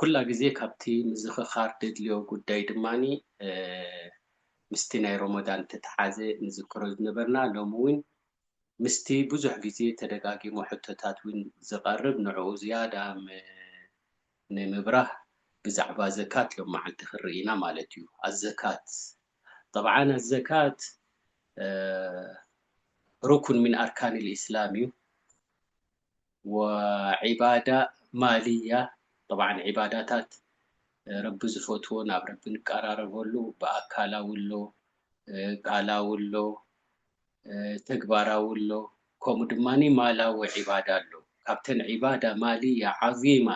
ኩላ ግዜ ካብቲ ምዝኽኻር ደድልዮ ጉዳይ ድማ ምስቲ ናይ ሮሞዳን እተተሓዘ ንዝክሮ ዝነበርና ሎሚ ውን ምስቲ ብዙሕ ግዜ ተደጋጊሙ ሕቶታት ውን ዝቐርብ ንዕኡ ዝያዳ ንምብራህ ብዛዕባ ዘካት ሎም መዓልቲ ክንርኢ ኢና ማለት ዩ። ኣዘካት ጠብዓን ኣዘካት ሩኩን ሚን ኣርካኒል ኢስላም ዩ። ወዒባዳ ማልያ ጠብዓን ዒባዳታት ረቢ ዝፈትዎ ናብ ረቢ ንቀራረበሉ ብኣካላዊ ኣሎ ቃላዊ ኣሎ ተግባራዊ ኣሎ ከምኡ ድማ ማላዊ ዒባዳ ኣሎ ካብተን ዒባዳ ማልያ ዓዚማ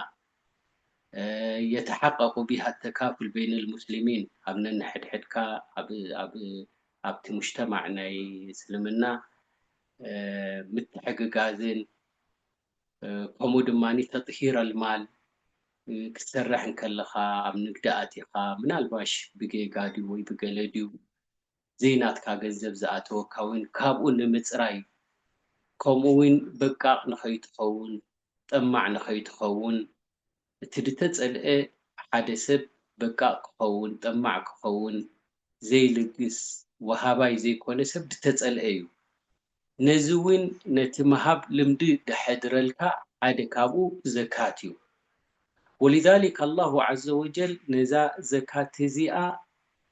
የተሓቀቁ ቢሃ ተካፍል በይን ልሙስሊሚን ኣብ ነንሕድሕድካ ኣብ ኣብቲ ሙጅተማዕ ናይ እስልምና ምትሕግጋዝን ከምኡ ድማ ተጥሂር ኣልማል ክትሰርሕ እንከለኻ ኣብ ንግዲ ኣቲኻ ምናልባሽ ብጌጋ ድዩ ወይ ብገለ ድዩ ዘይናትካ ገንዘብ ዝኣተወካ እውን ካብኡ ንምፅራይ ከምኡ እውን በቃቕ ንኸይትኸውን ጠማዕ ንኸይትኸውን እቲ ድተጸልኤ ሓደ ሰብ በቃቅ ክኸውን ጠማዕ ክኸውን ዘይልግስ ወሃባይ ዘይኮነ ሰብ ድተጸልኤ እዩ ነዚ ውን ነቲ ምሃብ ልምዲ ደሐድረልካ ሓደ ካብኡ ዘካት እዩ ወሊዛሊክ ኣላሁ ዓዘወጀል ነዛ ዘካት እዚኣ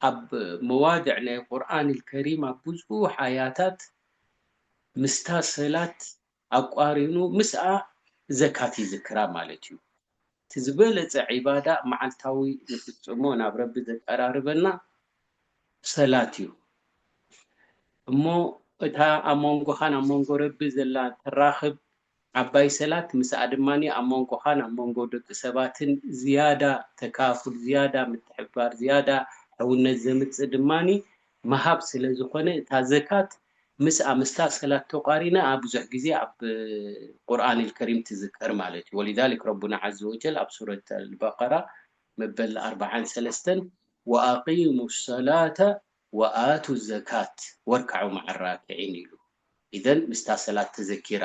ኣብ መዋድዕ ናይ ቁርኣን ኣልከሪም ኣብ ብዙሕ ኣያታት ምስታ ሰላት ኣቋሪኑ ምስኣ ዘካት ይዝክራ ማለት እዩ። እቲ ዝበለጸ ዒባዳ መዓልታዊ ንፍጽሞ ናብ ረቢ ዘቀራርበና ሰላት እዩ። እሞ እታ ኣብ መንጎኻን ኣብ መንጎ ረቢ ዘላ ተራኽብ ዓባይ ሰላት ምስኣ ድማ ኣብ መንጎኻን ኣብ መንጎ ደቂ ሰባትን ዝያዳ ተካፉል ዝያዳ ምትሕብባር ዝያዳ ሕውነት ዘምጽእ ድማ ምሃብ ስለ ዝኾነ እታ ዘካት ምስ ኣምስታ ሰላት ተቋሪና ብዙሕ ግዜ ኣብ ቁርኣን ኣልከሪም ትዝከር ማለት እዩ ወሊዛሊክ ረቡና ዓዘ ወጀል ኣብ ሱረት ኣልበቀራ መበል ኣርብዓን ሰለስተን ወኣቂሙ ሰላተ ወኣቱ ዘካት ወርካዑ መዓ ራኪዒን ኢሉ ኢዘን ምስታ ሰላት ተዘኪራ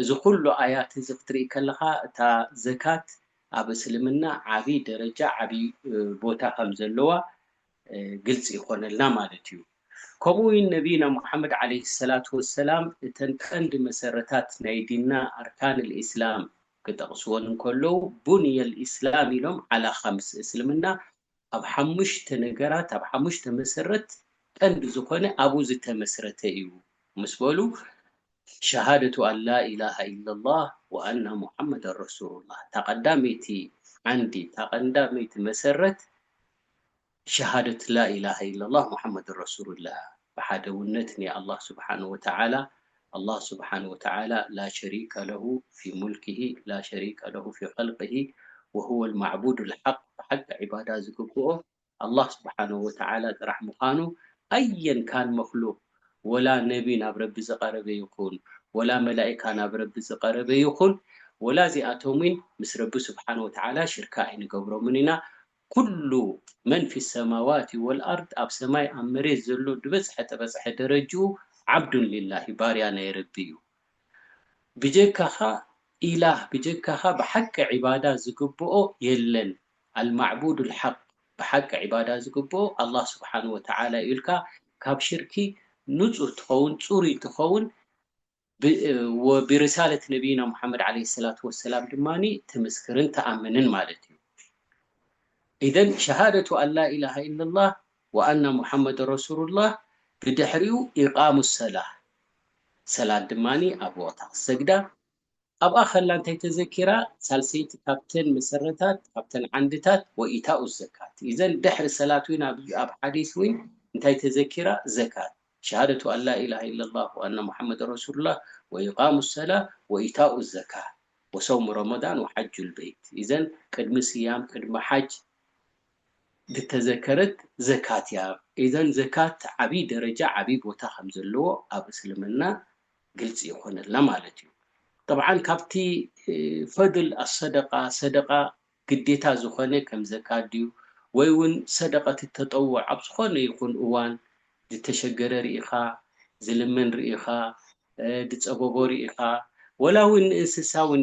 እዚ ኩሉ ኣያት እዚ ክትርኢ ከለኻ እታ ዘካት ኣብ እስልምና ዓቢ ደረጃ ዓቢ ቦታ ከም ዘለዋ ግልጺ ይኾነልና ማለት እዩ። ከምኡ ውን ነብይና ሙሓመድ ዓለይሂ ሰላቱ ወሰላም እተን ቀንዲ መሰረታት ናይ ዲንና ኣርካን ልእስላም ክጠቕስወን እንከለዉ ቡንየል ኢስላም ኢሎም ዓላ ኻምስ እስልምና ኣብ ሓሙሽተ ነገራት፣ ኣብ ሓሙሽተ መሰረት ቀንዲ ዝኾነ ኣብኡ ዝተመስረተ እዩ ምስ በሉ፣ ሸሃደቱ ኣን ላኢላሃ ኢለላህ ወኣና ሙሓመደን ረሱሉላህ፣ እታ ቀዳመይቲ ዓንዲ፣ እታ ቀንዳመይቲ መሰረት ሸሃደት ላኢላሃ ኢለላህ ሙሓመደን ረሱሉላህ እያ፣ ብሓደውነት ናይ ኣላህ ሱብሓነሁ ወተዓላ ኣላህ ሱብሓነሁ ወተዓላ ላ ሸሪከ ለሁ ፊ ሙልኪሂ ላ ሸሪከ ለሁ ፊ ኸልቂሂ ወሁወል ማዕቡዱል ሓቅ ብሓቂ ዒባዳ ዝግብኦ ኣላህ ሱብሓነሁ ወተዓላ ጥራሕ ምዃኑ ኣየን ካን መኽሉቅ ወላ ነቢ ናብ ረቢ ዝቀረበ ይኹን ወላ መላኢካ ናብ ረቢ ዝቀረበ ይኹን ወላ እዚኣቶም ውን ምስ ረቢ ሱብሓነሁ ወተዓላ ሽርካ ኣይንገብሮምን ኢና ኩሉ መን ፊ ሰማዋቲ ወልኣርድ ኣብ ሰማይ ኣብ መሬት ዘሎ ድበጽሐ ጠበጽሐ ደረጅኡ ዓብዱን ሊላሂ ባርያ ናይ ረቢ እዩ ብጀካኻ ኢላህ ብጀካኻ ብሓቂ ዒባዳ ዝግብኦ የለን ኣልማዕቡዱል ሓቅ ብሓቂ ዒባዳ ዝግብኦ ኣላህ ሱብሓነሁ ወተዓላ እዩ ኢልካ ካብ ሽርኪ ንጹህ ትኸውን ጽሩይ ትኸውን ወቢሪሳለት ነቢይና ሙሓመድ ዓለይሂ ሰላቱ ወሰላም ድማ ትምስክርን ትኣምንን ማለት እዩ። ኢዘን ሸሃደቱ ኣን ላኢላሃ ኢለላህ ወኣና ሙሓመደን ረሱሉላህ ብድሕሪኡ ኢቓሙ ሰላህ ሰላት ድማ ኣብ ወቕታ ክትሰግዳ፣ ኣብኣ ከላ እንታይ ተዘኪራ? ሳልሰይቲ ካብተን መሰረታት፣ ካብተን ዓንድታት፣ ወኢታኡ ዘካት። ኢዘን ድሕሪ ሰላት ዊን ኣብ ሓዲስ ዊን እንታይ ተዘኪራ? ዘካት፣ ሸሃደቱ ኣን ላኢላሃ ኢለላህ ወኣነ ሙሓመደን ረሱሉላህ ወኢቓሙ ሰላህ ወኢታኡ ዘካህ ወሰውሙ ረመዳን ወሓጁል በይት። ኢዘን ቅድሚ ስያም ቅድሚ ሓጅ ድተዘከረት ዘካት እያ። ኢዘን ዘካት ዓቢ ደረጃ ዓቢ ቦታ ከም ዘለዎ ኣብ እስልምና ግልፂ ይኾነልና ማለት እዩ። ጠብዓን ካብቲ ፈድል ኣሰደቃ፣ ሰደቃ ግዴታ ዝኾነ ከም ዘካት ድዩ ወይ እውን ሰደቀት ተጠውዕ ኣብ ዝኾነ ይኹን እዋን ዝተሸገረ ርኢኻ፣ ዝልምን ርኢኻ፣ ዝፀበቦ ርኢኻ ወላ እውን ንእንስሳ እውን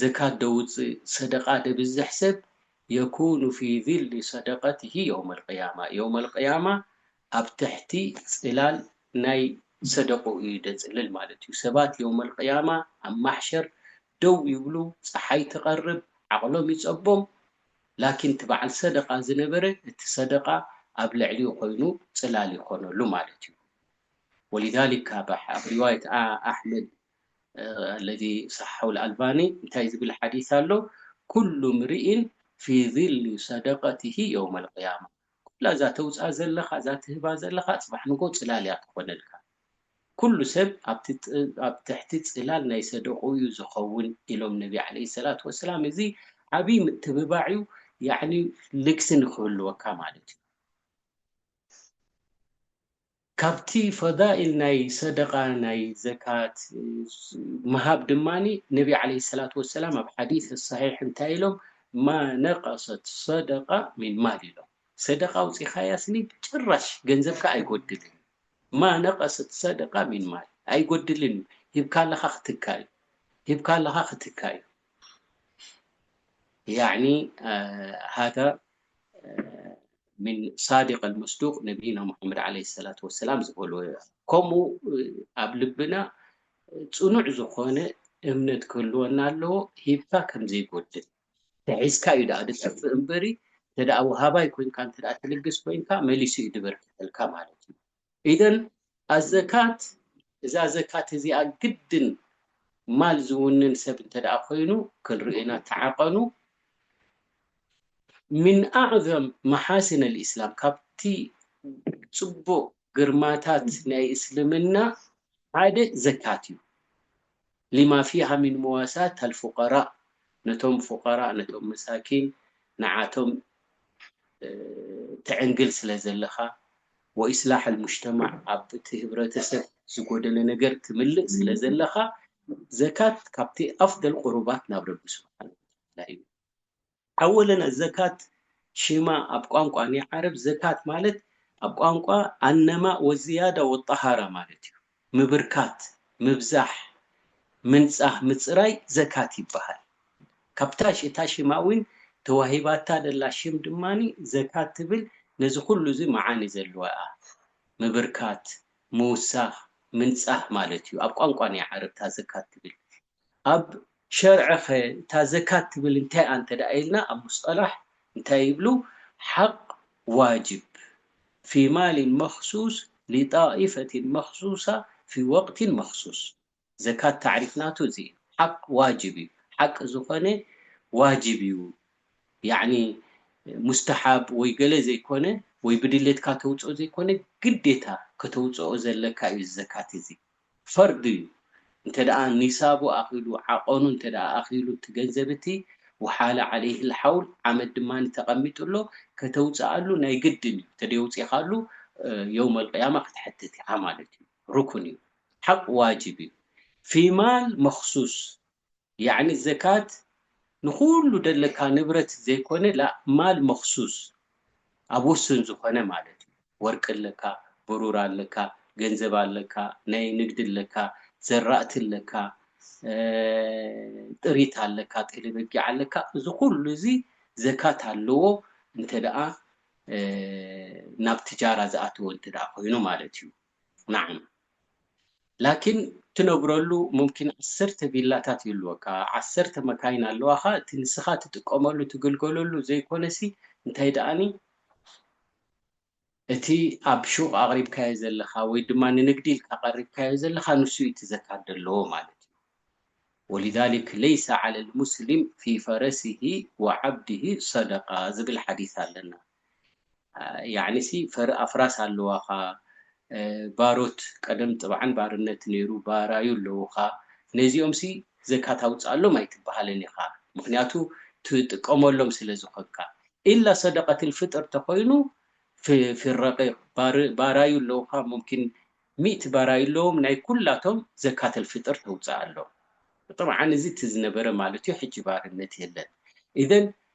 ዘካት ደውጽእ ሰደቃ ደብዝሕ ሰብ የኩኑ ፊ ዚሊ ሰደቀቲሂ የውመል ቅያማ የውመል ቅያማ ኣብ ትሕቲ ጽላል ናይ ሰደቅኡ እዩ ደጽልል ማለት እዩ ሰባት የውመል ቅያማ ኣብ ማሕሸር ደው ይብሉ ጸሓይ ትቀርብ ዓቅሎም ይጸቦም ላኪን እቲ በዓል ሰደቃ ዝነበረ እቲ ሰደቃ ኣብ ልዕሊኡ ኮይኑ ጽላል ይኮነሉ ማለት እዩ ወሊዛሊክ ካብ ኣብ ሪዋየት ኣሕመድ ኣለዚ ሰሓሑ ኣልባኒ እንታይ ዝብል ሓዲስ ኣሎ ኩሉ ምርኢን ፊ ዚሊ ሰደቀቲሂ የውመል ቂያማ ኩላ እዛ ተውጽኣ ዘለኻ እዛ ትህባ ዘለኻ ጽባሕ ንግሆ ጽላል እያ ትኾነልካ ኩሉ ሰብ ኣብ ትሕቲ ጽላል ናይ ሰደቅኡ እዩ ዝኸውን ኢሎም ነቢ ዓለይሂ ሰላቱ ወሰላም እዚ ዓብይ ምትብባዕ እዩ ያዕኒ ልግሲ ንኽህልወካ ማለት እዩ። ካብቲ ፈዳኢል ናይ ሰደቃ ናይ ዘካት ምሃብ ድማ ነቢ ዓለይሂ ሰላቱ ወሰላም ኣብ ሓዲስ ሰሒሕ እንታይ ኢሎም ማ ነቀሰት ሰደቃ ሚን ማል ኢሎም ሰደቃ ኣውጺኻያስኒ ጭራሽ ገንዘብካ ኣይጎድልን ማ ነቀሰት ሰደቃ ሚን ማል ኣይጎድልን እዩ ሂብካ ኣለኻ ክትካ እዩ ሂብካ ኣለኻ ክትካ እዩ ያዕኒ ሃዳ ሚን ሳዲቅ ኣልመስዱቅ ነብይና ሙሓመድ ዓለይሂ ሰላቱ ወሰላም ዝበልዎ እዩ። ከምኡ ኣብ ልብና ጽኑዕ ዝኾነ እምነት ክህልወና ኣለዎ፣ ሂብካ ከም ዘይጎድል ተሒዝካ እዩ ደኣ ዝጠፍእ እምበሪ እንተደኣ ወሃባይ ኮይንካ እንተደኣ ትልግስ ኮይንካ መሊሱ እዩ ዝበርከተልካ ማለት እዩ። ኢደን ኣዘካት እዛ ዘካት እዚኣ ግድን ማል ዝውንን ሰብ እንተደኣ ኮይኑ ክንርእና ተዓቀኑ ሚን ኣዕዘም መሓሲን ልእስላም ካብቲ ፅቡቅ ግርማታት ናይ እስልምና ሓደ ዘካት እዩ። ሊማ ፊሃ ሚን ሙዋሳት ኣል ፉቀራእ ነቶም ፉቀራእ ነቶም መሳኪን ንዓቶም ትዕንግል ስለ ዘለኻ ወኢስላሕ ኣል ሙጅተማዕ ኣብ እቲ ህብረተሰብ ዝጎደለ ነገር ትምልእ ስለ ዘለኻ ዘካት ካብቲ ኣፍደል ቁሩባት ናብ ረቢ ስብሓነሁ ወተዓላ እዩ። ኣወለን ዘካት ሽማ ኣብ ቋንቋ ናይ ዓረብ ዘካት ማለት ኣብ ቋንቋ ኣነማእ ወዝያዳ ወጣሃራ ማለት እዩ ምብርካት ምብዛሕ ምንጻህ ምጽራይ ዘካት ይበሃል ካብታ እታ ሽማ ውን ተዋሂባታ ደላ ሽም ድማ ዘካት ትብል ነዚ ኩሉ እዚ መዓኒ ዘልዋ እያ ምብርካት ምውሳኽ ምንጻህ ማለት እዩ ኣብ ቋንቋ ናይ ዓረብ እታ ዘካት ትብል ኣብ ሸርዕኸ እታ ዘካት ትብል እንታይ'ያ እንተ ኢልና ኣብ ሙስጠላሕ እንታይ ይብሉ ሓቕ ዋጅብ ፊ ማሊን መኽሱስ ሊጣኢፈቲን መኽሱሳ ፊ ወቅቲን መኽሱስ ዘካት ታዕሪፍ ናቱ እዚ እዩ ሓቕ ዋጅብ እዩ ሓቂ ዝኾነ ዋጅብ እዩ ያዕኒ ሙስተሓብ ወይ ገለ ዘይኮነ ወይ ብድሌትካ ተውጽኦ ዘይኮነ ግዴታ ከተውጽኦ ዘለካ እዩ እዚ ዘካት እዚ ፈርዱ ዩ እንተደኣ ኒሳቡ ኣኺሉ ዓቐኑ እንተደኣ ኣኺሉ እቲ ገንዘብ እቲ ወሓለ ዓለይህ ልሓውል ዓመት ድማ ተቐሚጡ ኣሎ ከተውጽኣሉ ናይ ግድን ዩ ተደየውጺኻሉ የውመል ቂያማ ክትሐተት ኢኻ ማለት ዩ ሩክን ዩ ሓቅ ዋጅብ ዩ ፊ ማል መኽሱስ ያዕኒ ዘካት ንኹሉ ደለካ ንብረት ዘይኮነ ላእ ማል መኽሱስ ኣብ ውሱን ዝኾነ ማለት እዩ ወርቂ ኣለካ ብሩር ኣለካ ገንዘብ ኣለካ ናይ ንግዲ ኣለካ ዘራእቲ ኣለካ ጥሪት ኣለካ ጤለ በጊዕ ኣለካ እዚ ኩሉ እዚ ዘካት ኣለዎ እንተ ደኣ ናብ ትጃራ ዝኣተወ እንተ ደኣ ኮይኑ ማለት እዩ። ናዓም ላኪን ትነብረሉ ሙምኪን ዓሰርተ ቪላታት ይህልወካ ዓሰርተ መካይን ኣለዋካ እቲ ንስካ ትጥቀመሉ ትግልገለሉ ዘይኮነሲ እንታይ ዳኣኒ እቲ ኣብ ሹቅ ኣቅሪብካዮ ዘለካ ወይ ድማ ንንግዲ ኢልካ ቀሪብካዮ ዘለካ ንሱ እዩ እቲ ዘካር ደለዎ ማለት እዩ ወሊዛሊክ ለይሰ ዓለል ሙስሊም ፊ ፈረሲሂ ወዓብዲሂ ሰደቃ ዝብል ሓዲስ ኣለና ያዕኒ ሲ ፈሪ ኣፍራስ ኣለዋኻ ባሮት ቀደም ጥብዓን ባርነት ነይሩ ባራዩ ኣለውኻ ነዚኦም ሲ ዘካት ኣውጽኣሎም ኣይትብሃልን ኢኻ ምኽንያቱ ትጥቀመሎም ስለ ዝኾንካ ኢላ ሰደቀትል ፍጥር ተኾይኑ ፊ ረቂቅ ባራዩ ኣለውኻ ሙምኪን ሚእቲ ባራዩ ኣለዎም ናይ ኩላቶም ዘካተል ፍጥር ተውጽኣሎም ጥብዓን እዚ እቲ ዝነበረ ማለት እዩ ሕጂ ባርነት የለን ኢዘን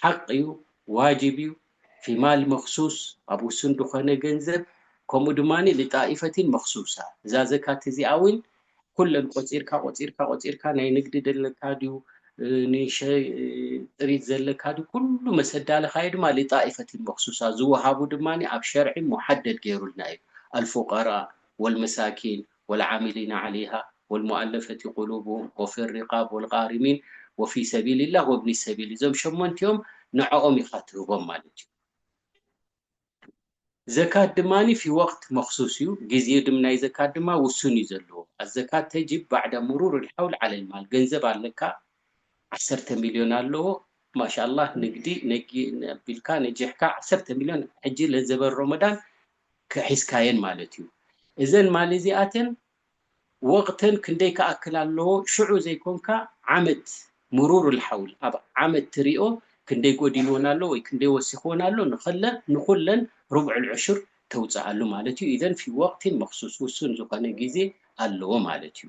ሓቅ እዩ ዋጅብ እዩ ፊማል መክሱስ ኣብ ውሱን ድኾነ ገንዘብ ከምኡ ድማ ሊጣኢፈቲን መክሱሳ እዛ ዘካት እዚኣ እውን ኩለን ቆፂርካ ቆፂርካ ቆፂርካ ናይ ንግዲ ደለካ ድዩ ንሸጥሪት ዘለካ ድዩ ኩሉ መሰዳለኻዮ ድማ ሊጣኢፈቲን መክሱሳ ዝወሃቡ ድማ ኣብ ሸርዒ ሙሓደድ ገይሩልና እዩ ኣልፉቀራ ወልመሳኪን ወልዓሚሊነ ዓለይሃ ወልሙኣለፈቲ ቁሉቡሁም ወፊሪቃብ ወልጋሪሚን ወፊ ሰቢሊላህ ወብኒ ሰቢል እዞም ሸሞንቲኦም ንዖኦም ኢኻ ትህቦም ማለት እዩ። ዘካት ድማ ፊ ወቅት መኽሱስ እዩ ግዜ ድም ናይ ዘካት ድማ ውሱን እዩ ዘለዎ ኣዘካት ተጅብ ባዕዳ ሙሩር ልሓውል ዓለል ማል ገንዘብ ኣለካ ዓሰርተ ሚልዮን ኣለዎ ማሻላህ ንግዲ ነጊ ኣቢልካ ነጂሕካ ዓሰርተ ሚልዮን ሕጂ ለዘበን ሮሞዳን ሒዝካየን ማለት እዩ እዘን ማሊ እዚኣተን ወቅተን ክንደይ ክኣክል ኣለዎ ሽዑ ዘይኮንካ ዓመት ሙሩር ልሓውል ኣብ ዓመት ትሪኦ ክንደይ ጎዲልወን ኣሎ ወይ ክንደይ ወሲክወን ኣሎ ንክለ ንኩለን ሩብዕ ልዑሽር ተውፅኣሉ ማለት እዩ ኢዘን ፊ ወቅቲን መክሱስ ውሱን ዝኮነ ግዜ ኣለዎ ማለት እዩ።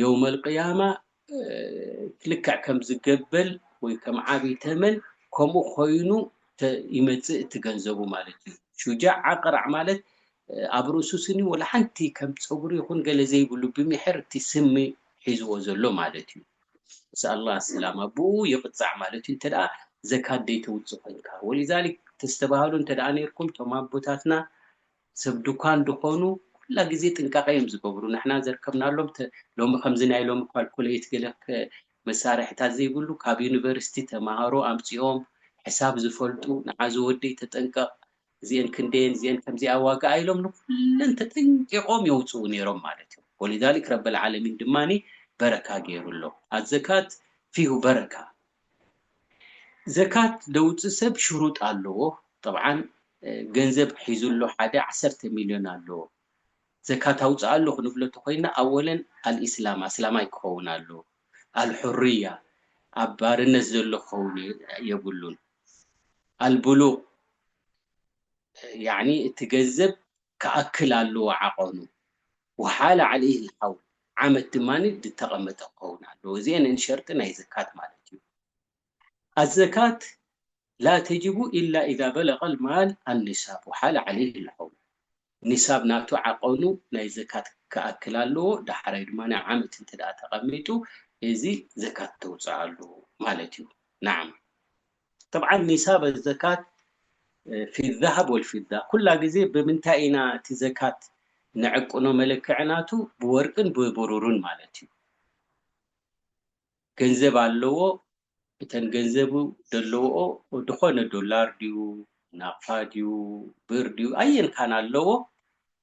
የውመል ቅያማ ልክዕ ከም ዝገበል ወይ ከም ዓብይ ተመን ከምኡ ኮይኑ ይመፅእ እቲ ገንዘቡ ማለት እዩ። ሹጃዕ ኣቅራዕ ማለት ኣብ ርእሱ ስኒ ወላ ሓንቲ ከም ፀጉሪ ይኹን ገለ ዘይብሉ ብሚሕር እቲ ስሚ ሒዝዎ ዘሎ ማለት እዩ። ምስ ኣላህ ሰላም ኣቡኡ ይቅፃዕ ማለት እዩ እንተ ዘካት ዘይተውፅእ ኮይንካ። ወሊዛሊክ ተስተባህሉ እንተ ነይርኩም እቶም ኣቦታትና ሰብ ዱካን ድኮኑ ኩላ ግዜ ጥንቃቀ እዮም ዝገብሩ ንሕና ዘርከብናሎም ሎሚ ከምዚ ናይ ሎሚ ኳልኩለይት ገለ መሳርሕታት ዘይብሉ ካብ ዩኒቨርስቲ ተማሃሮ ኣምጺኦም ሕሳብ ዝፈልጡ ንዓዚ ወደይ ተጠንቀቅ እዚኤን ክንደየን እዚኤን ከምዚኣ ዋጋኣ ኢሎም ንኩለን ተጠንቂቆም የውጽኡ ነይሮም ማለት እዩ ወሊዛሊክ ረበል ዓለሚን ድማ በረካ ገይሩ ኣሎ ኣዘካት ፊሁ በረካ ዘካት ደውጽእ ሰብ ሽሩጥ ኣለዎ ጠብዓን ገንዘብ ሒዙ ኣሎ ሓደ ዓሰርተ ሚልዮን ኣለዎ ዘካት ኣውጽኣሉ ክንብሎ ተኾይና ኣወለን ኣልኢስላም ኣስላማይ ክኸውን ኣለዎ ኣልሑርያ ኣብ ባርነት ዘሎ ክኸውን የብሉን ኣልቡሉቅ ያዕኒ እቲ ገንዘብ ክኣክል ኣለዎ ዓቐኑ ወሓለ ዓለይህ ልሓውል ዓመት ድማ ድተቐመጠ ክኸውን ኣለዎ እዚኤን እን ሸርጢ ናይ ዘካት ማለት እዩ ኣዘካት ላ ተጅቡ ኢላ ኢዛ በለቐ ልማል ኣኒሳብ ወሓለ ዓለይህ ልሓውል ኒሳብ ናቱ ዓቐኑ ናይ ዘካት ክኣክል ኣለዎ ዳሓራይ ድማ ዓመት እንተ ተቐሚጡ እዚ ዘካት ተውፅኣሉ ማለት እዩ ናዓም። ጠብዓ ኒሳብ ኣዘካት ፊዛሃብ ወልፊዛ ኩላ ግዜ ብምንታይ ኢና እቲ ዘካት ንዕቅኖ መለክዒ ናቱ ብወርቅን ብብሩርን ማለት እዩ ገንዘብ ኣለዎ እተን ገንዘቡ ደለዎኦ ድኾነ ዶላር ድዩ ናቕፋ ድዩ ብር ድዩ ኣየን ካን ኣለዎ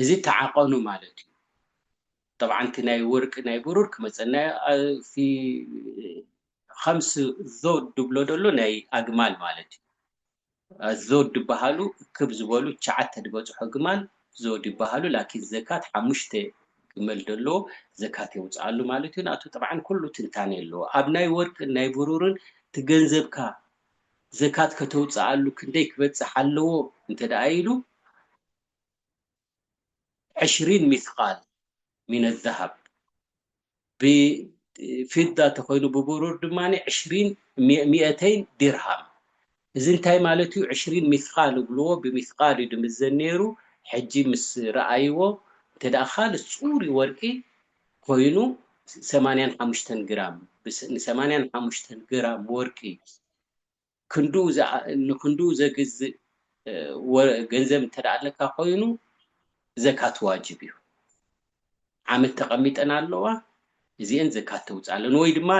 እዚ ተዓቐኑ ማለት እዩ ጠብዓን እቲ ናይ ወርቂ ናይ ብሩር ክመፀና ፊ ኸምስ ዞድ ድብሎ ደሎ ናይ ኣግማል ማለት እዩ ኣዞድ ድበሃሉ እክብ ዝበሉ ትሽዓተ ድበፅሑ ግማል ዞድ ይበሃሉ ላኪን ዘካት ሓሙሽተ ግመል ደሎ ዘካት የውፀኣሉ ማለት እዩ ናቱ ጠብዓን ኩሉ ትንታኔ ኣለዎ ኣብ ናይ ወርቅን ናይ ብሩርን እቲ ገንዘብካ ዘካት ከተውፀኣሉ ክንደይ ክበፅሕ ኣለዎ እንተደኣ ኢሉ ዕሽሪን ሚስቃል ሚነ ዘሀብ ብፊዳ ተኮይኑ ብብሩር ድማ ዕሽሪን ሚኤተይን ዲርሃም እዚ እንታይ ማለት እዩ ዕሽሪን ሚስቃል እብልዎ ብሚስቃል እዩ ድምዘን ነይሩ ሕጂ ምስ ረኣይዎ እንተ ካልእ ፅሩይ ወርቂ ኮይኑ ሰማንያን ሓሙሽተን ግራም ንሰማንያን ሓሙሽተን ግራም ወርቂ ክንዱ ንክንዱ ዘግዝእ ገንዘብ እንተ ኣለካ ኮይኑ ዘካት ዋጅብ እዩ ዓመት ተቐሚጠን ኣለዋ እዚአን ዘካት ተውፅኣለን ወይ ድማ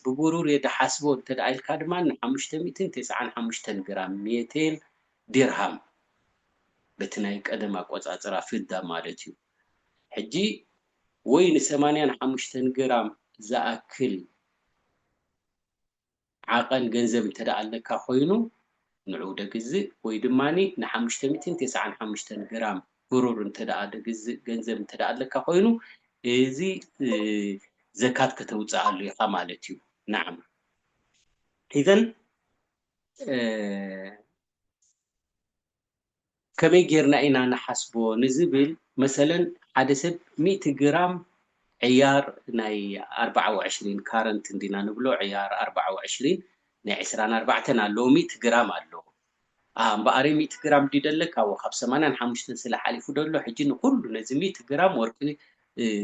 ብብሩር እየ ድሓስቦ እንተ ኢልካ ድማ ንሓሙሽተ ሚእትን ተስዓን ሓሙሽተን ግራም ሜቴን ዲርሃም በቲ ናይ ቀደም ኣቆፃፅራ ፍዳ ማለት እዩ ሕጂ ወይ ንሰማንያን ሓሙሽተን ግራም ዝኣክል ዓቐን ገንዘብ እንተድኣ ኣለካ ኮይኑ ንዑ ደግዝእ ወይ ድማ ንሓሙሽተ ሚእትን ተሰዓን ሓሙሽተን ግራም ብሩር እንተድኣ ደግዝእ ገንዘብ እንተድኣ ኣለካ ኮይኑ እዚ ዘካት ከተውጽኣሉ ኢኻ ማለት እዩ። ናዓም ኢዘን ከመይ ጌርና ኢና ንሓስቦ ንዝብል መሰለን ሓደ ሰብ ሚእቲ ግራም ዕያር ናይ ኣርብዓ ወዕሽሪን ካረንት እንዲና ንብሎ ዕያር ኣርብዓ ወዕሽሪን ናይ ዕስራን ኣርባዕተን ኣለዎ ሚእቲ ግራም ኣሎ ኣሃ እምበኣረይ ሚእቲ ግራም ድዩ ደለካ እወ ካብ ሰማንያን ሓሙሽተን ስለ ሓሊፉ ዶ ኣሎ ሕጂ ንኹሉ ነዚ ሚእቲ ግራም ወርቂ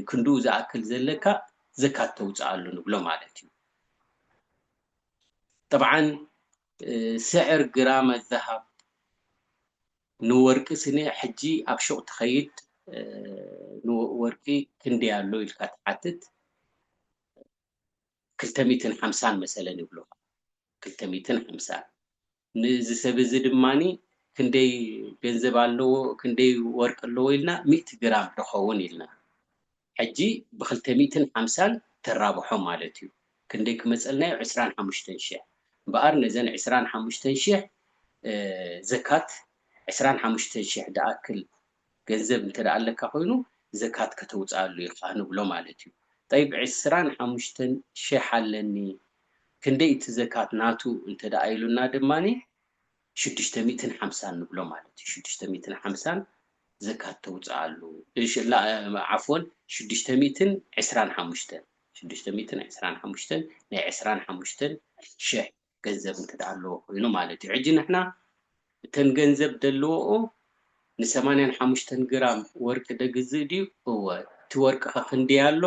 ክንድኡ ዝኣክል ዘለካ ዘካት ተውጽኣሉ ንብሎ ማለት እዩ ጠብዓን ስዕር ግራመ ዘሀብ ንወርቂ ስነ ሕጂ ኣብ ሹቅ ትከይድ ንወርቂ ክንደይ ኣሎ ኢልካ ትሓትት ክልተ ሚትን ሓምሳን መሰለን ይብሉካ ክልተ ሚትን ሓምሳን ንእዚ ሰብ እዚ ድማ ክንደይ ገንዘብ ኣለዎ ክንደይ ወርቂ ኣለዎ ኢልና ሚእቲ ግራም ዶከውን ኢልና ሕጂ ብክልተ ሚእትን ሓምሳን ተራብሖ ማለት እዩ ክንደይ ክመጸልና እዩ ዕስራን ሓሙሽተን ሽሕ እምበኣር ነዘን ዕስራን ሓሙሽተን ሽሕ ዘካት ዕስራን ሓሙሽተን ሽሕ ድኣክል ገንዘብ እንተ ኣለካ ኮይኑ ዘካት ከተውጽኣሉ ኢኻ ንብሎ ማለት እዩ ጠይብ ዕስራን ሓሙሽተን ሽሕ ኣለኒ ክንደይ እቲ ዘካት ናቱ እንተ ኢሉና ድማ ሽዱሽተ ሚእትን ሓምሳን ንብሎ ማለት እዩ ሽዱሽተ ሚእትን ሓምሳን ዘካት ተውጽኣሉ ዓፍወን ሽዱሽተ ሚእትን ዕስራን ሓሙሽተን ሽዱሽተ ሚእትን ዕስራን ሓሙሽተን ናይ ዕስራን ሓሙሽተን ሽሕ ገንዘብ እንተ ኣለዎ ኮይኑ ማለት እዩ ሕጂ ንሕና እተን ገንዘብ ደለዎኦ ንሰማንያን ሓሙሽተን ግራም ወርቂ ደግዝእ ድዩ እወ እቲ ወርቂ ከ ክንደይ ኣሎ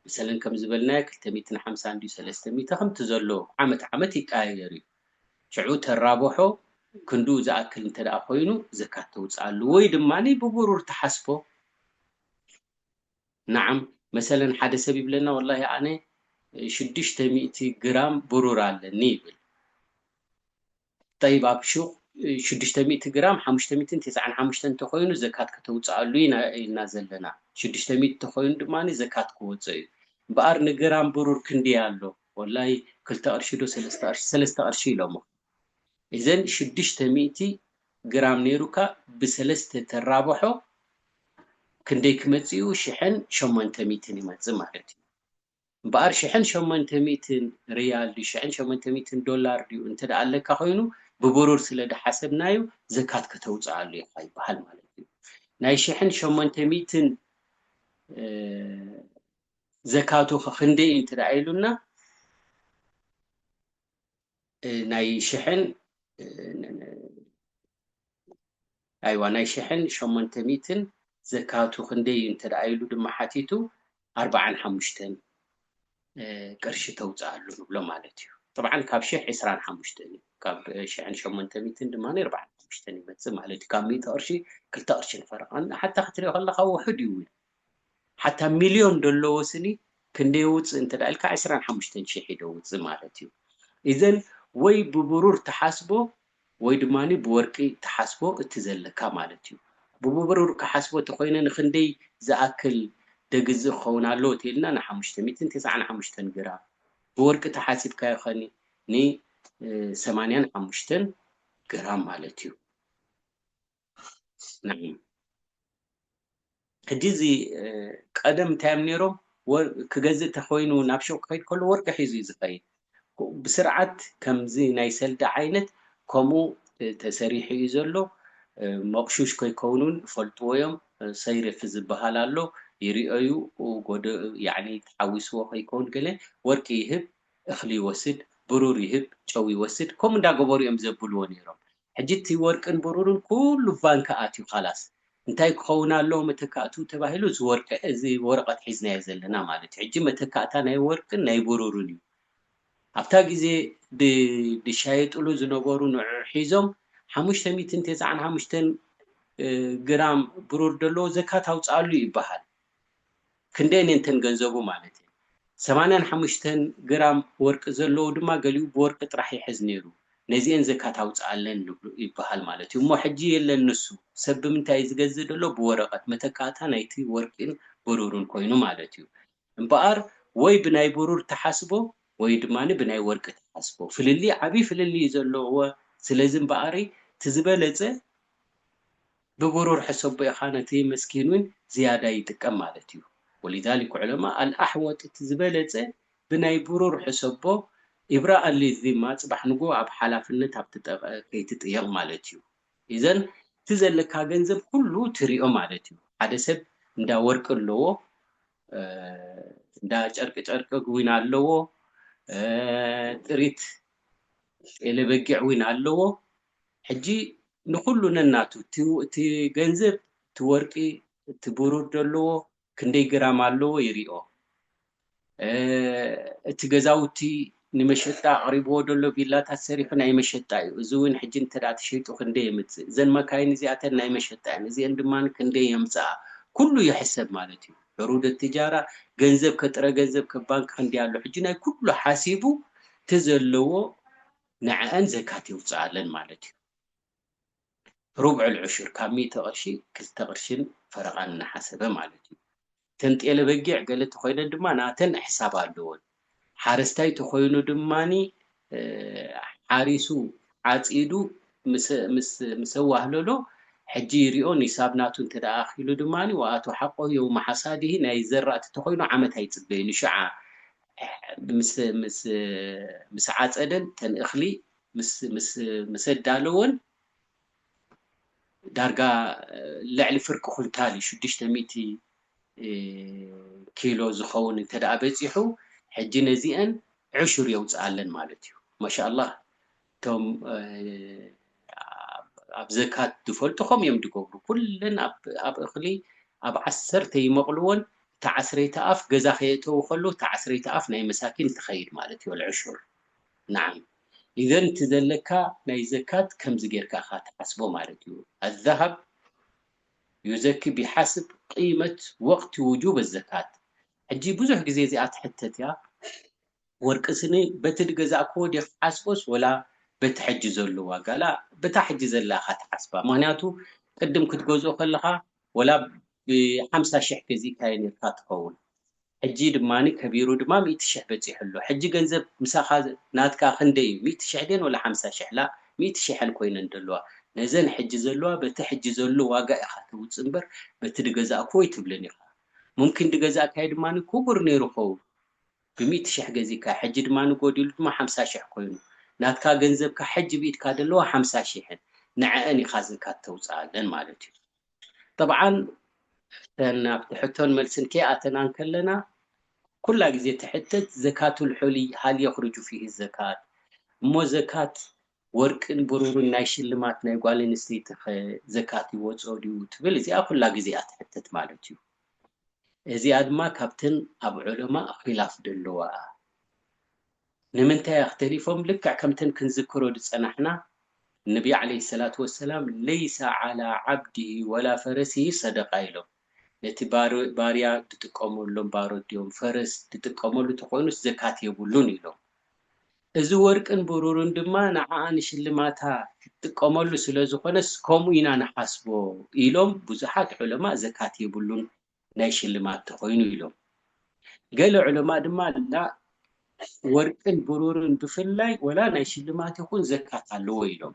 መሰለን ከም ዝበልናዮ ክልተ ሚእትን ሓምሳን ድዩ ሰለስተ ሚእቲ ከምቲ ዘሎ ዓመት ዓመት ይቀያየር እዩ ሽዑ ተራብሖ ክንድኡ ዝኣክል እንተ ኮይኑ ዘካት ተውጽኣሉ ወይ ድማ ብብሩር ትሓስቦ ናዓም መሰለን ሓደ ሰብ ይብለና ወላሂ ኣነ ሽዱሽተ ሚእቲ ግራም ብሩር ኣለኒ ይብል ጠይብ ኣብ ሹቅ ሽዱሽተ ሚእቲ ግራም ሓሙሽተ ሚእትን ትስዓን ሓሙሽተን እንተ ኮይኑ ዘካት ከተውጽኣሉ ኢና ኢልና ዘለና ሽዱሽተ ሚእቲ እንተ ኮይኑ ድማ ዘካት ክወጾ እዩ እምበኣር ንግራም ብሩር ክንደይ ኣሎ ወላይ ክልተ ቅርሺ ዶ ሰለስተ ቅርሺ ሰለስተ ቅርሺ ኢሎሞ እዘን ሽዱሽተ ሚእቲ ግራም ነይሩካ ብሰለስተ ተራብሖ ክንደይ ክመጽእ እዩ ሽሕን ሸሞንተ ሚእትን ይመጽእ ማለት እዩ እምበኣር ሽሕን ሸሞንተ ሚእትን ርያል ድዩ ሽሕን ሸሞንተ ሚእትን ዶላር ድዩ እንተ ኣለካ ኮይኑ ብብሩር ስለ ድሓሰብናዩ ዘካት ከተውጽኣሉ ኢኻ ይበሃል ማለት እዩ ናይ ሽሕን ሸሞንተ ሚእትን ዘካቱኸ ክንደይ እዩ እንተድኣ ኢሉና ናይ ሽሕን ኣይዋ ናይ ሽሕን ሸሞንተ ሚእትን ዘካቱ ክንደይ እዩ እንተድኣ ኢሉ ድማ ሓቲቱ ኣርባዓን ሓሙሽተን ቅርሺ ተውፅኣሉ ንብሎ ማለት እዩ طبعا ካብ ሽሕ ዕስራን ሓሙሽተን እዩ ካብ ሽሕን ሸሞንተ ሚትን ድማ ኣርባዓን ሓሙሽተን ይመፅእ ማለት እዩ ካብ ሚእቲ ቅርሺ ክልተ ቅርሺ ንፈረቃ ሓታ ክትሪኦ ከለካ ውሑድ እዩ እውን ሓታ ሚልዮን ደለዎ ስኒ ክንደይ የውጽእ እንተ ኢልካ ዕስራን ሓሙሽተን ሽሕ እዩ ደውጽእ ማለት እዩ ኢዘን ወይ ብብሩር ትሓስቦ ወይ ድማ ብወርቂ ትሓስቦ እቲ ዘለካ ማለት እዩ ብብብሩር ክሓስቦ ተኾይነ ንክንደይ ዝኣክል ደግዝእ ክኸውን ኣለዎ ተኢልና ንሓሙሽተ ሚእትን ትስዓን ሓሙሽተን ግራም ብወርቂ ተሓሲብካዮ ከኒ ን ሰማንያን ሓሙሽተን ግራም ማለት እዩ። ነዒም ሕጂ እዚ ቀደም እንታይ እዮም ነይሮም ክገዝእ ተኮይኑ ናብ ሹቅ ክኸይድ ከሎ ወርቂ ሒዙ እዩ ዝኸይድ ብስርዓት ከምዚ ናይ ሰልዲ ዓይነት ከምኡ ተሰሪሑ እዩ ዘሎ መቕሹሽ ከይከውን እውን ይፈልጥዎ እዮም ሰይርፍ ዝበሃል ኣሎ ይርኦ እዩ ጎደ ያኒ ተሓዊስዎ ከይከውን ገለ ወርቂ ይህብ እኽሊ ይወስድ ብሩር ይህብ ጨው ይወስድ ከምኡ እንዳገበሩ እዮም ዘብልዎ ነይሮም ሕጂ እቲ ወርቅን ብሩርን ኩሉ ቫንክ ኣትዩ ኻላስ እንታይ ክኸውን ኣለዎ መተካእትኡ ተባሂሉ እዚ ወርቂ እዚ ወረቀት ሒዝናዮ ዘለና ማለት እዩ ሕጂ መተካእታ ናይ ወርቅን ናይ ብሩርን እዩ ኣብታ ግዜ ድ ድሻየጥሉ ዝነበሩ ንዑዑ ሒዞም ሓሙሽተ ሚእትን ቴስዓን ሓሙሽተን ግራም ብሩር ደለዎ ዘካት ኣውጽኣሉ ይበሃል ክንደየን እየን እተን ገንዘቡ ማለት እየን። ሰማንያን ሓሙሽተን ግራም ወርቂ ዘለዎ ድማ ገሊኡ ብወርቂ ጥራሕ ይሕዝ ነይሩ፣ ነዚኤን ዘካት ኣውጽኣለን ንብሉ ይብሃል ማለት እዩ። እሞ ሕጂ የለን ንሱ፣ ሰብ ብምንታይ እዩ ዝገዝእ ዘሎ? ብወረቐት፣ መተካእታ ናይቲ ወርቂን ብሩርን ኮይኑ ማለት እዩ። እምበኣር ወይ ብናይ ብሩር ትሓስቦ ወይ ድማ ብናይ ወርቂ ትሓስቦ፣ ፍልልይ ዓቢ ፍልልይ እዩ ዘለዎ፣ ስለዚ እምበኣር እቲ ዝበለጸ፣ ብብሩር ሕሰቦ ኢኻ ነቲ መስኪን ውን ዝያዳ ይጥቀም ማለት እዩ ወሊዛሊክ ዑለማእ ኣልኣሕወጥ እቲ ዝበለጸ ብናይ ብሩር ሕሰቦ ኢብራኣን ሊዚማ ጽባሕ ንግሆ ኣብ ሓላፍነት ኣብ ትጠቀ ከይትጥየቅ ማለት እዩ ኢዘን እቲ ዘለካ ገንዘብ ኩሉ ትሪኦ ማለት እዩ ሓደ ሰብ እንዳ ወርቂ ኣለዎ እንዳ ጨርቂ ጨርቂ ዊን ኣለዎ ጥሪት ጤለ በጊዕ ዊን ኣለዎ ሕጂ ንኹሉ ነናቱ እቲ ገንዘብ እቲ ወርቂ እቲ ብሩር ደለዎ ክንደይ ግራም ኣለዎ ይሪኦ እቲ ገዛውቲ ንመሸጣ ኣቕሪብዎ ደሎ ቪላታት ሰሪሑ ናይ መሸጣ እዩ እዚ እውን ሕጂ እንተ ተሸይጡ ክንደይ የምጽእ እዘን መካይን እዚኣተን ናይ መሸጣ እየን እዚኤን ድማ ክንደይ የምጽኣ ኩሉ ይሕሰብ ማለት እዩ ዕሩደ ትጃራ ገንዘብ ከጥረ ገንዘብ ከባንክ ክንደይ ኣሎ ሕጂ ናይ ኩሉ ሓሲቡ እቲ ዘለዎ ንዐኣን ዘካት የውጽኣለን ማለት እዩ። ሩብዕ ኣልዑሹር፣ ካብ ሚእቲ ቅርሺ ክልተ ቅርሽን ፈረቓን እናሓሰበ ማለት እዩ። እተን ጤለ በጊዕ ገለ ተኾይነን ድማ ናተን ሕሳብ ኣለወን። ሓረስታይ ተኾይኑ ድማ ሓሪሱ ዓጺዱ ምስ ኣዋህለሎ ሕጂ ይሪኦ ኒሳብ ናቱ እንተ ኣኺሉ ድማ ወኣቱ ሓቆሁ የውመ ሓሳዲሂ ናይ ዘራእቲ ተኾይኑ ዓመት ኣይጽበይን እዩ ሽዓ ምስ ምስ ምስ ዓጸደን ተን እኽሊ ምስ ምስ ምስ ኣዳለወን ዳርጋ ልዕሊ ፍርቂ ኩንታል እዩ ሽዱሽተ ሚእቲ ኪሎ ዝኸውን እንተ ደኣ በጺሑ ሕጂ ነዚኤን ዕሹር የውጽኣለን ማለት እዩ ማሻ ኣላህ እቶም ኣብ ዘካት ዝፈልጡ ከምኡ እዮም ዝገብሩ ኩለን ኣብ እኽሊ ኣብ ዓሰርተ ይመቕልዎን እቲ ዓስረይቲ ኣፍ ገዛ ከየእተዉ ከለዉ እቲ ዓስረይቲ ኣፍ ናይ መሳኪን ትኸይድ ማለት እዩ ኣልዕሹር ናዓም ኢዘን እቲ ዘለካ ናይ ዘካት ከምዚ ጌርካ ኢኻ ትሓስቦ ማለት እዩ ኣዛሃብ ዩዘኪ ቢሓስብ ቂመት ወቕቲ ውጁብ ኣዘካት ሕጂ ብዙሕ ግዜ እዚኣ ትሕተት እያ ወርቂ ስኒ በቲ ድገዛእክዎ ድየ ክሓስቦስ ወላ በቲ ሕጂ ዘሎ ዋጋ ላእ በታ ሕጂ ዘላ ኢኻ ትሓስባ ምኽንያቱ ቅድም ክትገዝኦ ከለኻ ወላ ብ ሓምሳ ሽሕ ገዚእካዮ ኔርካ ትኸውን ሕጂ ድማ ከቢሩ ድማ ሚእቲ ሽሕ በጺሑ ኣሎ ሕጂ ገንዘብ ምሳኻ ናትካ ክንደይ እዩ ሚእቲ ሽሕ ድየን ወላ ሓምሳ ሽሕ ላእ ሚእቲ ሽሐን ኮይነን ደለዋ ነዘን ሕጂ ዘለዋ በቲ ሕጂ ዘሎ ዋጋ ኢኻ ተውጽእ እምበር በቲ ድገዛእክዎ ኣይትብልን ኢኻ ሙምኪን ድገዛእካዮ ድማ ኩቡር ኔሩ ክኸውን ብሚእቲ ሽሕ ገዚእካዮ ሕጂ ድማ ጎዲሉ ድማ ሓምሳ ሽሕ ኮይኑ ናትካ ገንዘብካ ሕጂ ብኢድካ ደለዋ ሓምሳ ሽሕን ንዐኣን ኢካ ዝካት ተውጽኣለን ማለት እዩ ጠብዓን እተን ኣብቲ ሕቶን መልስን ከይኣተና እንከለና ኩላ ግዜ ትሕተት ዘካቱል ሑሊ ሀል የኽርጁ ፊሂ ዘካት እሞ ዘካት ወርቅን ብሩርን ናይ ሽልማት ናይ ጓል ኣንስተይቲ ከ ዘካት ይወጾ ድዩ ትብል እዚኣ ኩላ ግዜ እያ ትሕተት ማለት እዩ እዚኣ ድማ ካብተን ኣብ ዑለማእ ኺላፍ ደለዋ እያ ንምንታይ እያ ክተሊፎም ልክዕ ከምተን ክንዝክሮ ድጸናሕና ነቢ ዓለይሂ ሰላቱ ወሰላም ለይሰ ዓላ ዓብዲሂ ወላ ፈረሲሂ ሰደቃ ኢሎም ነቲ ባርያ ድጥቀመሎም ባሮት ድዮም ፈረስ ድጥቀመሉ ተኾይኑስ ዘካት የብሉን ኢሎም እዚ ወርቅን ብሩርን ድማ ንዓኣ ንሽልማታ ክትጥቀመሉ ስለ ዝኾነስ ከምኡ ኢና ንሓስቦ ኢሎም ብዙሓት ዑለማእ ዘካት የብሉን ናይ ሽልማት ተኾይኑ ኢሎም። ገለ ዑለማእ ድማ ላእ ወርቅን ብሩርን ብፍላይ ወላ ናይ ሽልማት ይኹን ዘካት ኣለዎ ኢሎም።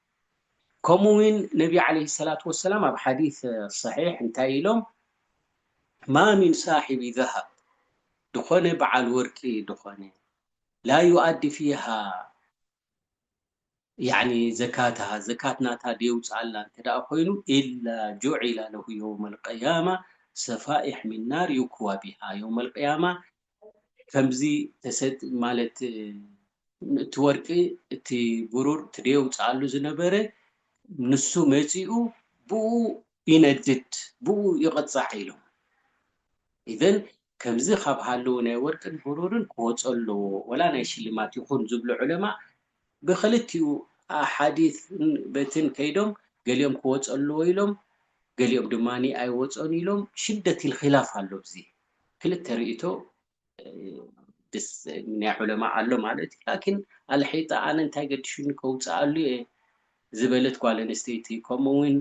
ከምኡ ውን ነቢ ዓለይሂ ሰላቱ ወሰላም ኣብ ሓዲስ ሰሒሕ እንታይ ኢሎም ማ ሚን ሳሒቢ ዘሀብ ድኾነ በዓል ወርቂ ድኾነ ላ ዩኣዲ ፊሃ ያኒ ዘካተሃ ዘካት ናታ ደየውጽኣላ እንተደኣ ኮይኑ ኢላ ጁዒላ ለሁ የውመል ቅያማ ሰፋኢሕ ሚን ናር ዩክዋ ቢሃ የውመል ቅያማ ከምዚ ተሰጥ ማለት እቲ ወርቂ እቲ ብሩር እቲ ደየውጽኣሉ ዝነበረ ንሱ መጺኡ ብእኡ ይነድድ ብእኡ ይቕጻዕ ኢሎም ኢዘን ከምዚ ካብ ሃለዉ ናይ ወርቅን ብሩርን ክወጾ ኣለዎ ወላ ናይ ሽልማት ይኹን ዝብሉ ዑለማእ ብክልቲኡ ኣሓዲትን በትን ከይዶም ገሊኦም ክወጹ ኣለዎ ኢሎም ገሊኦም ድማ ኣይወጹን ኢሎም ሽደት ኢልኺላፍ ኣሎ ኣብዚ ክልተ ርእይቶ ናይ ዑለማእ ኣሎ ማለት እዩ ላኪን ኣልሒጣ ኣነ እንታይ ገዲሹኒ ከውጽኣሉ እየ ዝበለት ጓል ኣንስተይቲ ከምኡ እውን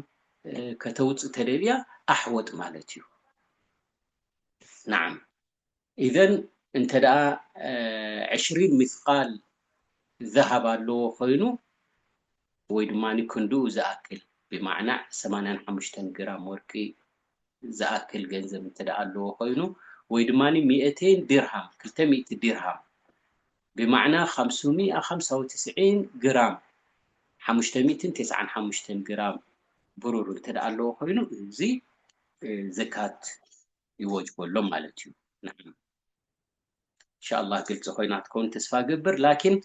ከተውጽእ ተደልያ ኣሕወጥ ማለት እዩ ናዓም ኢዘን እንተ ዕሽሪን ሚስቃል ዛሃብ ኣለዎ ኮይኑ ወይ ድማ ክንድኡ ዝኣክል ብማዕናዕ ሰማንያን ሓሙሽተን ግራም ወርቂ ዝኣክል ገንዘብ እንተ ኣለዎ ኮይኑ ወይ ድማ ሚእተይን ዲርሃም ክልተ ሚእቲ ዲርሃም ብማዕና ኻምሱሚኣ ኻምሳ ወትስዒን ግራም ሓሙሽተ ሚእትን ቴስዓን ሓሙሽተን ግራም ብሩር እንተ ኣለዎ ኮይኑ እዚ ዘካት ይወጅበሎም ማለት እዩ ንሕና እንሻላ ግልፂ ኮይና ትከውን ተስፋ ገብር ላኪን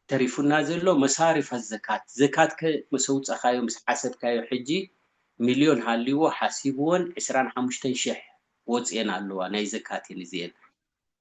ተሪፉና ዘሎ መሳሪፍ ዘካት ዘካት ከ ምስ ኣውፃካዮ ምስ ሓሰብካዮ ሕጂ ሚልዮን ሃልዎ ሓሲብዎን ዕስራን ሓሙሽተን ሽሕ ወፅኤን ኣለዋ ናይ ዘካት እየን እዚኤን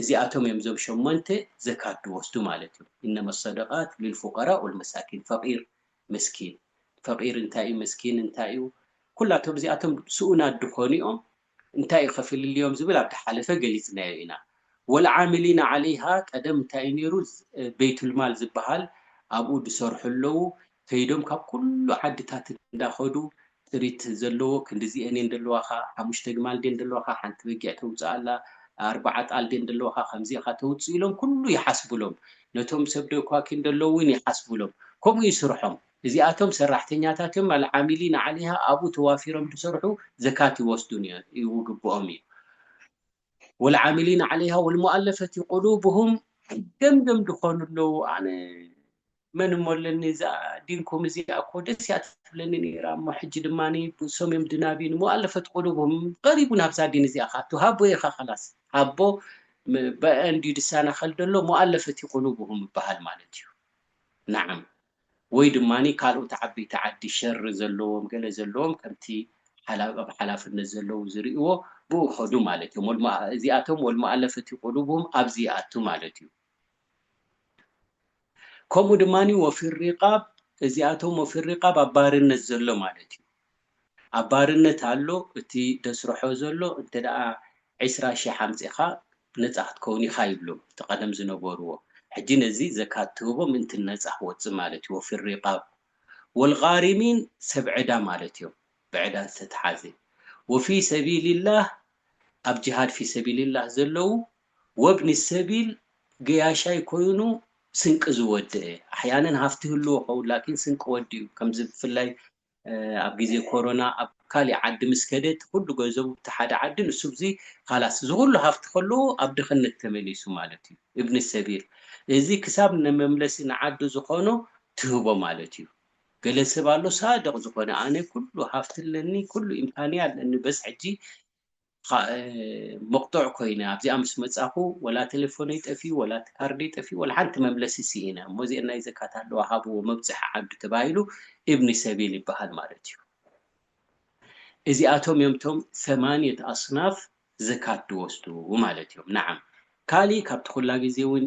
እዚኣቶም እዮም እዞም ሸሞንተ ዘካት ድወስዱ ማለት እዩ እነመ ሰደቃት ሊልፉቀራ ወልመሳኪን ፈቂር መስኪን ፈቂር እንታይ እዩ መስኪን እንታይ እዩ ኩላቶም እዚኣቶም ስኡናት ድኾኑ እዮም እንታይ እዩ ከፍልልዮም ዝብል ኣብ ድሓለፈ ገሊፅናዮ ኢና ወልዓሚሊና ዓለይሃ ቀደም እንታይ እዩ ነይሩ በይቱልማል ዝበሃል ኣብኡ ድሰርሑ ኣለዉ ከይዶም ካብ ኩሉ ዓድታት እንዳ ከዱ ጥሪት ዘለዎ ክንድዚኤን እየን ደለዋካ ሓሙሽተ ግማል ድየን ደለዋካ ሓንቲ በጊዕ ተውጽእ ኣላ ኣርባዓ ኣጣል ድየን ደለዋካ ከምዚ ኢካ ተውጽእ ኢሎም ኩሉ ይሓስብሎም ነቶም ሰብ ደኳኪን ደለዉ ውን ይሓስብሎም ከምኡ እዩ ስርሖም እዚኣቶም ሰራሕተኛታት እዮም ኣልዓሚሊን ዓሊሃ ኣብኡ ተዋፊሮም ድሰርሑ ዘካት ይወስዱን ይግብኦም እዩ ወልዓሚሊን ዓሊሃ ወልሙኣለፈቲ ቁሉብሁም ገምገም ድኮኑ ኣለዉ ኣነ መን እሞ ኣለኒ እዛ ዲንኩም እዚኣ እኮ ደስ እያ ትብለኒ ነይራ እሞ ሕጂ ድማ ብሶምዮም ድናቢን እሞ ኣለፈት ቁሉብሁም ቀሪቡ ናብዛ ዲን እዚኣ ክኣቱ ሃቦ ኢካ ከላስ ሃቦ በእንድዩ ድሳናከል ደሎ እሞ ኣለፈቲ ቁሉብሁም ይባሃል ማለት እዩ ናዓም ወይ ድማ ካልኦት ዓበይቲ ዓዲ ሸር ዘለዎም ገለ ዘለዎም ከምቲ ኣብ ሓላፍነት ዘለዉ ዝርእዎ ብኡ ከዱ ማለት እዮም ወልሞ እዚኣቶም ወልሞ ኣለፈቲ ቁሉብሁም ኣብዚ ይኣቱ ማለት እዩ ከምኡ ድማ ወፊር ሪቓብ እዚኣቶም ወፊር ሪቓብ ኣብ ባርነት ዘሎ ማለት እዩ። ኣብ ባርነት ኣሎ እቲ ደስርሖ ዘሎ እንተ ዕስራ ሽሕ ኣምጺኻ ነጻ ክትከውን ኢኻ ይብሎም እቲ ቀደም ዝነበርዎ ሕጂ ነዚ ዘካት ትህቦ ምእንቲ ነጻ ክወጽእ ማለት እዩ ወፊር ሪቓብ ወልቓሪሚን ሰብ ዕዳ ማለት እዮም ብዕዳ ዝተትሓዘ ወፊ ሰቢሊላህ ኣብ ጅሃድ ፊሰቢሊላህ ዘለዉ ወብኒ ሰቢል ገያሻይ ኮይኑ ስንቂ ዝወደኤ ኣሕያነን ሃፍቲ ይህልዎ ኸውን ላኪን ስንቂ ወዲኡ ከምዚ ብፍላይ ኣብ ግዜ ኮሮና ኣብ ካሊእ ዓዲ ምስ ከደ እቲ ኩሉ ገንዘቡ ብቲ ሓደ ዓዲ ንሱ ብዚ ኻላስ እዚ ኩሉ ሃፍቲ ከለዎ ኣብ ድኽነት ተመሊሱ ማለት እዩ እብኒ ሰቢል እዚ ክሳብ ንመምለሲ ንዓዱ ዝኾኖ ትህቦ ማለት እዩ ገለ ሰብ ኣሎ ሳድቕ ዝኾነ ኣነ ኩሉ ሃፍቲ ኣለኒ ኩሉ ኢምካንያ ኣለኒ በስ ሕጂ መቕጦዕ ኮይነ ኣብዚኣ ምስ መጻኹ ወላ ተለፎነይ ጠፊኡ ወላ እቲ ካርደይ ጠፊኡ ወላ ሓንቲ መምለሲ ሲኢነ እሞ እዚኤን ናይ ዘካት ኣለዋ ሃብዎ መብጽሒ ዓዱ ተባሂሉ ኢብኒ ሰቢል ይበሃል ማለት እዩ እዚኣቶም እዮም እቶም ሰማንየት ኣስናፍ ዘካት ዝወስዱ ማለት እዮም ነዓም ካሊእ ካብቲ ኩላ ግዜ እውን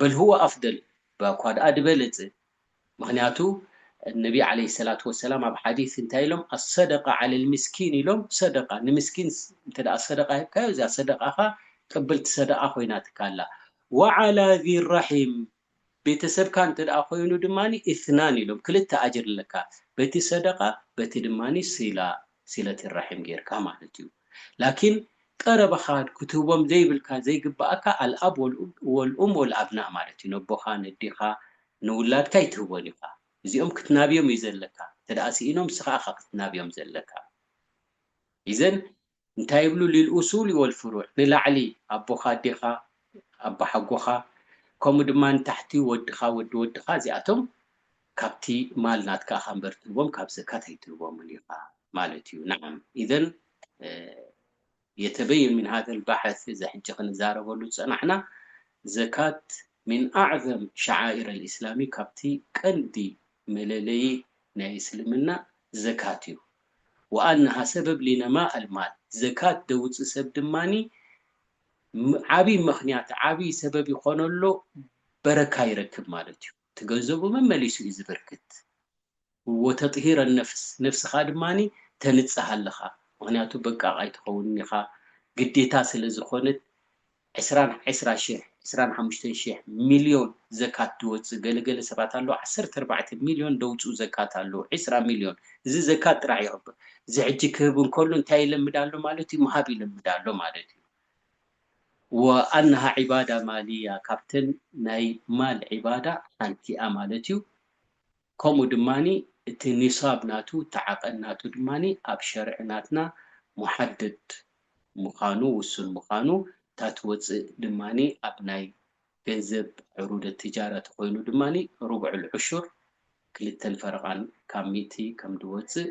በልህዎ ኣፍደል ባኳ ድኣ ድበለጸ ምክንያቱ ነቢ ዓለይሂ ሰላቱ ወሰላም ኣብ ሓዲስ እንታይ ኢሎም ኣሰደቃ ዓለል ሚስኪን ኢሎም ሰደቃ ንምስኪን እንተ ሰደቃ ሂብካዮ እዚኣ ሰደቃኻ ቅብልቲ ሰደቃ ኮይናትካ ኣላ ወዓላ ዚረሒም ቤተሰብካ እንተ ኮይኑ ድማ ኢስናን ኢሎም ክልተ ኣጅር ኣለካ በቲ ሰደቃ በቲ ድማ ሲላ ሲለቲ ራሒም ጌርካ ማለት እዩ ላኪን ቀረባኻ ክትህቦም ዘይብልካ ዘይግባኣካ ኣልኣብ ወልኡም ወልኣብናእ ማለት እዩ ነቦኻ ነዴኻ ንውላድካ ኣይትህቦን ኢኻ እዚኦም ክትናብዮም እዩ ዘለካ እንተ ሲኢኖም ንስኻ እኻ ክትናብዮም ዘለካ ኢዘን እንታይ ይብሉ ሊልኡሱሊ ወልፍሩዕ ንላዕሊ ኣቦኻ ኣዴኻ ኣባሓጎኻ ከምኡ ድማ ንታሕቲ ወድኻ ወዲ ወድኻ እዚኣቶም ካብቲ ማል ናትካ እኻ እምበር ትህቦም ካብ ዘካት ኣይትህቦምን ኢኻ ማለት እዩ ናዓም ኢዘን የተበየን ምን ሀዘል ባሐስ እዚ ሕጂ ክንዛረበሉ ዝጸናሕና ዘካት ምን ኣዕዘም ሸዓኢረ ልእስላሚ ካብቲ ቀንዲ መለለዪ ናይ እስልምና ዘካት እዩ ወኣነሃ ሰበብ ሊነማእ ኣልማል ዘካት ደውጽእ ሰብ ድማ ዓቢ መኽንያት ዓቢ ሰበብ ይኾኖ ኣሎ በረካ ይረክብ ማለት እዩ። እቲ ገንዘቡ መመሊሱ እዩ ዝበርክት። እዎ ተጥሂር ኣልነፍስ ነፍስኻ ድማ ተንጽህ ኣለኻ ምኽንያቱ በቃቕ ኣይትኸውንን ኢኻ ግዴታ ስለ ዝኾነት ዕስራን ዕስራ ሽሕ ዕስራን ሓሙሽተን ሽሕ ሚልዮን ዘካት ድወጽእ ገለ ገለ ሰባት ኣለዉ ዓሰርተ ኣርባዕተ ሚልዮን ደውጽኡ ዘካት ኣለዉ ዕስራ ሚልዮን እዚ ዘካት ጥራሕ ይቕበል እዚ ሕጂ ክህብ እንከሎ እንታይ ይለምድ ኣሎ ማለት እዩ ምሃብ ይለምድ ኣሎ ማለት እዩ። ወኣነሃ ዒባዳ ማልያ ካብተን ናይ ማል ዒባዳ ሓንቲ'ያ ማለት'ዩ፣ ከምኡ ድማ እቲ ኒሳብ ናቱ እቲ ዓቐን ናቱ ድማ ኣብ ሸርዒ ናትና ሙሓደድ ምኻኑ ውሱን ምኻኑ እታ ትወጽእ ድማ ኣብ ናይ ገንዘብ ዑሩደ ትጃራ ተኾይኑ ድማ ሩብዑል ዑሹር ክልተን ፈረቓን ካብ ሚእቲ ከምድወጽእ